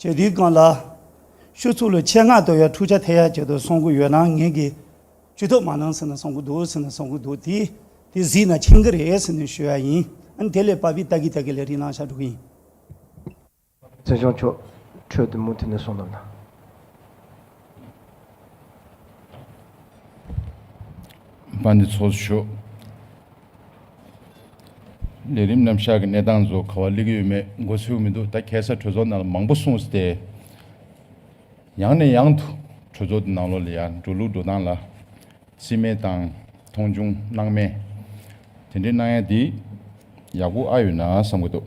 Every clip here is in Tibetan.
བྱས་འདུག་གང་ལགས། ཤོག་ཚུགས་ལ་ཆེད་མངགས་དོ་ཡ་འཁྲུག་ཆ་ཐེ་ཡ་བྱས་དུ་སོང་གི་ཡོད་ན་ངེད་ཀྱིས་ཇུས་གཏོགས་མ་གནང་ཟེར་ན་སོང་གི་འདུག་ཟེར་ན་སོང་གི་འདུག་དེ་དེ་གཟིགས་ན་ཕྱིན་གི་རེད་ཟེར་ནས་ཞུས་ཡ་ཡིན་ཨང་དེ་ལས་པ་བི་ཏཱ་གི་ཏཱ་གི་ལས་རིགས་གནང་ཤག་འགྲོ་གི་ཡིན། བཙན་བྱོལ་ཕྱོགས་ཁྲོད་དུ་མུ་མཐུད་ནས་སོང་ན་ན། པ་འདི་ཚོགས་སུ་ཞུགས། ལས་རིམ་རྣམ་བཞག་གི་གནས་སྟངས་རྫོགས་ག་བ་གླེགས་ཡོད་མེད་མགོ་ཚོས་མི་འདུག་ད་གལ་སར་གྲོས་ཚོགས་ནང་ལ་མང་པོ་གསུངས་སྟེ། ཡང་ནས་ཡང་དུ་གྲོས་ཚོགས་འདི་ནང་ལོགས་ལ་ཡང་འགྲོ་ལུགས་འགྲོ་སྟངས་ལ་རྩིས་མེད་དང་མཐོང་ཆུང་སྣང་མེད་དེ་འདྲའི་སྣང་ཡ་འདི་ཡག་པོ་ཨ་ཡོད་ན་བསམ་གི་འདུག།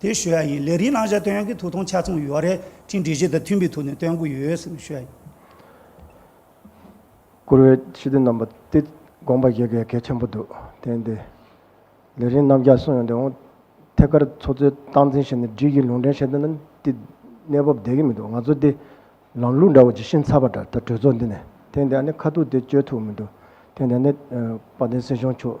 དེ་ཞུ་ཡག་ཡིན་ལས་རིགས་བླང་བྱ་བཏོན་ཡག་གི་ཐུགས་ཐོང་ཆ་ཚང་ཡོད་རེད་ཁྲིན་འགྲེལ་བྱེད་དང་མཐུན་པའི་ཐུགས་ནས་བཏོན་གི་ཡོད་སེམས་ཞུ་ཡག་ཡིན། བཀུར་འོས་ཕྱི་དོན་རྣམ་པ་སྟེ་དགོངས་པ་བཞེས་གལ་གལ་ཆེན་པོ་འདུག་དེ་འདི་ལས་རིང་རྣམ་རྒྱག་གསུངས་ཡོང་དེ་འོང་ཐད་ཀར་ཚོགས་གཙོའི་སྟངས་འཛིན་བྱས་ནས་སྒྲིག་གཞི་ལུང་འདྲེན་བྱས་དོན་ནི་འདི་གནས་བབ་བདེ་གི་མི་འདུག་ང་ཚོ་འདི་ལམ་ལུགས་འདྲ་བོ་ཇི་བཞིན་ཚར་བ་འདྲ་ད་གྲོས་ཚོགས་འདི་ནས་དེ་འདི་ཨ་ནི་ཁ་ཐུག་དེ་བཅོས་ཐུག་མི་འདུག་དེ་འདི་ནི་དཔལ་ལྡན་སྲིད་གཞུང་མཆོག་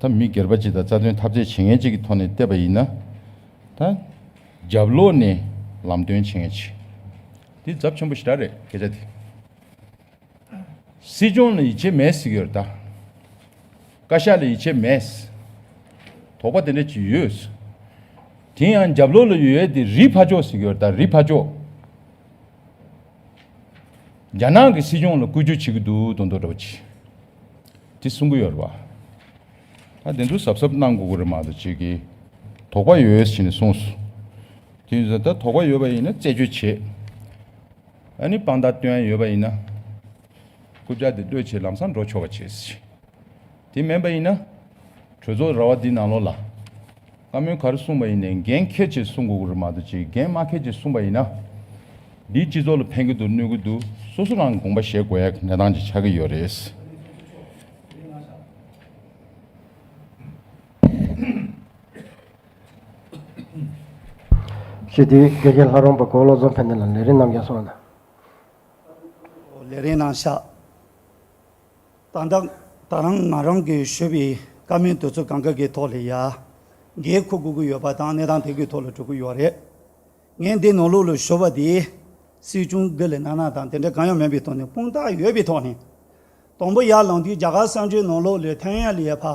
ད་མི་སྒེར་པ་གཅིག་དང་རྩ་དོན་ཐབས་རྩལ་བྱེད་མཁན་གཅིག་གི་ཐོག་ནས་བལྟས་པ་ཡིན་ན། ད་རྒྱབ་ལོག་ནས་ལམ་སྟོན་བྱེད་མཁན་གཅིག་དེ་རྫབ་ཆེན་པོ་ཞེ་དྲག་རེད་སྐད་ཆ་དེ། སྲིད་སྐྱོང་ལ་ཡིད་ཆེས་མེད་ཟེར་གི་ཡོད་རེད་ད། བཀའ་ཤག་ལ་ཡིད་ཆེས་མེད། དོགས་པ་དེ་འདྲ་གཅིག་ཡོད། དེ་ཡང་རྒྱབ་ལོག་ལ་ཡོད་དེ་རིའི་ཕ་ཅོག་ཟེར་གི་ཡོད་རེད་ད་རིའི་ཕ་ཅོག། རྒྱ་ནག་གི་སྲིད་སྐྱོང་ལ་བསྐུལ་རྒྱུ་བྱེད་ཀྱི་འདུག་དོན་དུ་རེད། དེ་གསུང་གི་ཡོད་རེད་པ། ད་དེ་ཚོ་གཟབ་གཟབ་གནང་དགོས་ཀྱི་རེད་མ་གཏོགས་ཅིག་གིས་དོགས་པ་ཡོད་ཟེར་ནས་གསུངས་སོ། དེ་ཡིན་ཟེར་ན་ད་དོགས་པ་ཡོད་པ་ཡིན་ན་རྩད་གཅོད་བྱེད། ཨ་ནི་དཔང་རྟགས་སྟོན་ཡོད་པ་ཡིན་ན། རྐུབ་ལྕགས་དེ་གློད་བྱེད་ལམ་སང་འགྲོ་ཆོག་པ་བྱེད། དེ་མིན་པ་ཡིན་ན། གྲོས་ཚོགས་ར་བ་འདི་ནང་ལོགས་ལ། བཀའ་མོལ་ག་རེ་གསུངས་པ་ཡིན་ནས་འགན་ཁྱེད་ཀྱིས་གསུངས་དགོས་གི་རེད་མ་གཏོགས་ཅིག་འགན་མ་ཁྱེད་ཀྱིས་གསུངས་པ་ཡིན་ན། འདིས་སྤྱི་ཚོགས་ལ་ཕན་གི་འདུག་གནོད་གི་འདུག་སོ་སོ་རང་དགོངས་པ་བཞེས་དགོས་ཡག་གནས་སྟངས་ཅིག་ཆགས་ཀྱི་ཡོད་རེད། ཞེས་དེའི་དགེ་རྒན་ལྷ་རོང་པ་གོ་བློ་བཟང་ཕེ་ནེ་ལ་ལས་རིན་ནམ་རྒྱ་སོང་ན། ལས་རིན་གནང་ཤག། ད་ལྟ་ད་རང་ང་རང་གིས་ཞུས་པའི་བཀའ་མོལ་དུས་ཚོད་གང་གཱ་གའི་ཐོག་ལ་ཡ་གའི་ཁུག་གུག་གི་ཡོད་པ་དང་གནས་སྟངས་དེ་གའི་ཐོག་ལ་གྲོལ་གི་ཡོད་རེད། ངས་འདི་ནང་ལུགས་ལ་ཞུ་བ་དེ་སྲིད་སྐྱོང་དགེ་ལས་ནག་ནག་དང་དེ་འདྲ་གང་ཡང་མིན་པའི་ཐོག་ནས་དཔུང་རྟགས་ཡོད་པའི་ཐོག་ནས། དང་པོ་ཡར་ལངས་དུས་རྒྱ་གར་གསར་འགྱུར་ནང་ལུགས་ལས་ཐན་ཡ་ལིའེ་ཕ་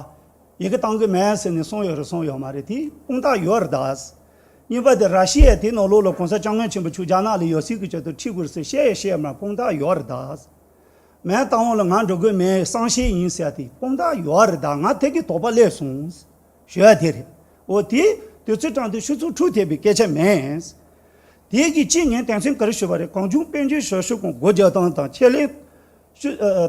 ཡི་གི་བཏང་གི་མེད་ཟེར་ནས་གསུངས་ཡོད་རེད་གསུངས་ཡོད་མ་རེད་དེ་དཔུང་རྟགས་ཡོད་རེད་ད། གཉིས་པ་དེ་ར་ཤི་ཡས་དེ་ནང་ལུགས་ལ་གོང་ས་སྐྱབས་མགོན་ཆེན་པོ་ཆུ་རྒྱ་ནག་ལ་ཡོད་སྲིད་གི་ཆེད་དུ་ཁྲིད་དགོས་རེད་ཟེར་བཤད་ཡས་བཤད་མ་དཔུང་རྟགས་ཡོད་རེད་ད། མའི་རྟ་བོང་ལ་ང་འགྲོ་དགོས་མེད་གསང་ཤེས་ཡིན་ཟེར་ཏེ་དཔུང་རྟགས་ཡོད་བ་རེད་ད་ང་ཐད་ཀའི་དོགས་པ་སླེབས་སོང། ཞོལ་དེ་རེད། འོ་དེ་དུས་ཚོད་དྲངས་དུས་ཆུ་ཚོད་དྲུག་ཐེབས་པའི་སྐད་ཆ་མེད། དེའི་གི་གཅིག་ངས་དེང་སེམས་ག་རེ་ཞུས་པ་རེད་གང་བྱུང་དཔལ་འབྱོར་ཞོར་ཞུ་ཁང་སྒོ་རྒྱག་སྟངས་དང་ཆེད་ལས།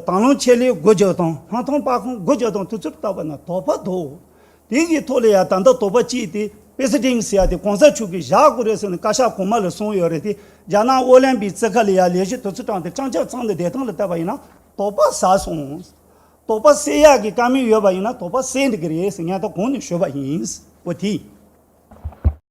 དང་བླངས་ཆེད་ལས་སྒོ་རྒྱག་སྟངས་ལྷ་མཐོང་དཔའ་ཁང་སྒོ་རྒྱག་སྟངས་དུས་ཚོད་བཏགས་པ་ན་དོགས་པ་དོགས། དེ་གི་ཐོག་ལ་ཡང་ད་ལྟ་དོགས་པ་སྐྱེས་ཏེ་པེ་སི་ཏིང་སི་ཡ་དེ་གོང་ས་མཆོག་གིས་བཞག་དགོས་རེད་ཟེར་ནས་བཀའ་ཤག་གོང་མ་ལ་གསུངས་ཡོད་རེད་དེ་རྒྱ་ནག་ཨོ་ལན་པིའི་རྩེད་ཁ་ལ་ཡང་ལས་གཞི་དུ་ཚུར་དྲངས་ཏེ་སྤྱང་སྤྱང་ཚང་ནས་བདེ་ཐང་ལ་བལྟ་བ་ཡིན་ན་དོགས་པ་ཟ་སོང། དོགས་པ་སེལ་ཡག་གི་བཀའ་མོལ་ཡོད་པ་ཡིན་ན་དོགས་པ་སེལ་འགྲིག་གི་རེད་ཟེར་སྙན་ཐོ་གོང་ནས་ཞུས་པ་ཡིན། པོ་ཏི།